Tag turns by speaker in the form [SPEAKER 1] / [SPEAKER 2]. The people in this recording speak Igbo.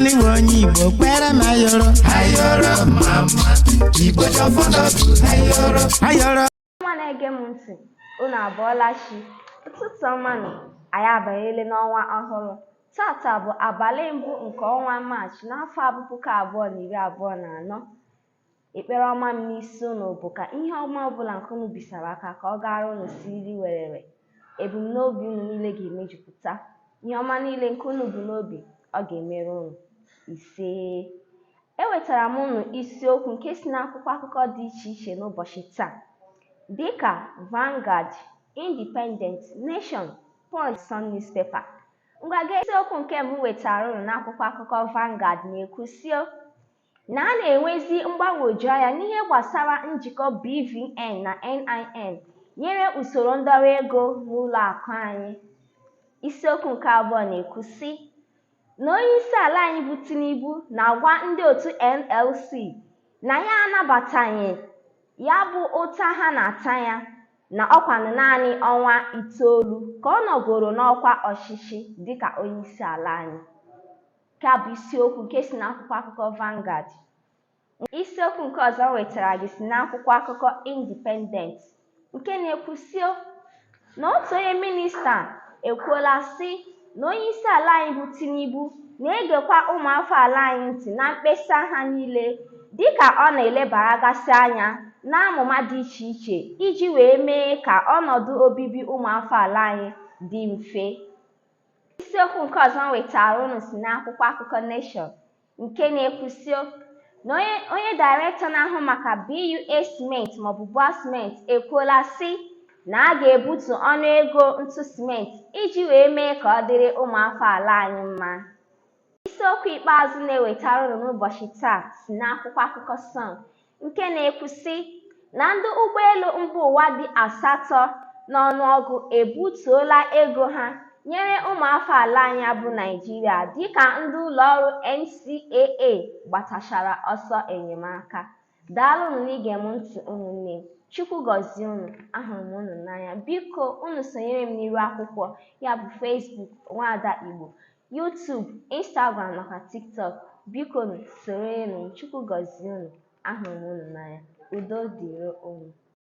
[SPEAKER 1] n'iwe onye igbo kwere m ayoro ayoro mma mma igbo ji ọfọ n'ogu ayoro ayoro nwa na-ege
[SPEAKER 2] m ntị unu abọọla chi ụtụtụ ọma nụ anyị abanyele n'ọnwa ọhụrụ tata bụ abalị mbụ nke ọnwa maachị n'afọ abụ puku abụọ na iri abụọ na anọ Ekpere ọma m n'isi unu bụ ka ihe ọma ọbụla nke ụnụ bisara aka ka ọ gaara unu siriri werere. Ebumnobi unu niile ga-emejupụta. Ihe ọma niile nke unu bu n'obi, ọ ga-emere unu. Isee. Ewetara m unu isiokwu nke si n'akwụkwọ akụkọ dị iche iche n'ụbọchị taa dịka Vanguard, Independent, Nation, Punch, Sun Newspaper. Ngwa gee isiokwu nke mbụ wetara unu n'akwụkwọ akụkọ Vanguard na-ekwu sị o na a na-enwezi mgbagwoju anya n'ihe gbasara njikọ BVN na NIN nyere usoro ndọrọ ego n'ụlọ akụ anyị. Isiokwu nke abụọ na-ekwu sị na onyeisi ala anyị bụ Tinubu na-agwa ndị otu NLC na ya anabataghị ya bụ ụta ha na-ata ya na ọkwanụ naanị ọnwa itoolu ka ọ nọgoro n'ọkwa ọchịchị dịka onyeisi ala anyị. Nke a bụ isiokwu nke si n'akwụkwọ akụkọ Vanguard. Isiokwu nke ọzọ m wetara gị si n'akwụkwọ akụkọ Independent nke na-ekwu sị o na otu onye minista ekwuola sị na onye isi ala anyị bụ Tinubu na-egekwa ụmụafọ ala anyị ntị na mkpesa ha niile dịka ọ na-elebaragasị anya n'amụma dị iche iche iji wee mee ka ọnọdụ obibi ụmụafọ ala anyị dị mfe. isiokwu nke ọzọ m wetara unu si n'akwụkwọ akụkọ Nation nke na-ekwu sị o na onye dairektọ na-ahụ maka BUA Cement maọbụ BUA Cement ekwuola sị na a ga-ebutu ọnụ ego ntụ simenti iji wee mee ka ọ dịrị ụmụafọ ala anyị mma Isiokwu ikpeazụ na-ewetara unu n'ụbọchị taa si n'akwụkwọ akụkọ Sun nke na-ekwu sị na ndị ụgbọelu mba ụwa dị asatọ n'ọnụọgụ ebutuola ego ha nyere ụmụafọ ala anyị bụ Naịjirịa dịka ndị ụlọọrụ NCAA gbatachara ọsọ enyemaka. Daalụnụ n'ige m ntị ụmụnne m. Chukwu gọzie unu, ahụrụ m unu n'anya. Biko, unu sonyere m n'iru akwụkwọ ya bụ Facebook Nwaada Igbo. YouTube, Instagram nakwa TikTok. Biko soronụ m. Chukwu gọzie unu. Ahụrụ m unu n'anya. Udo dịrị unu.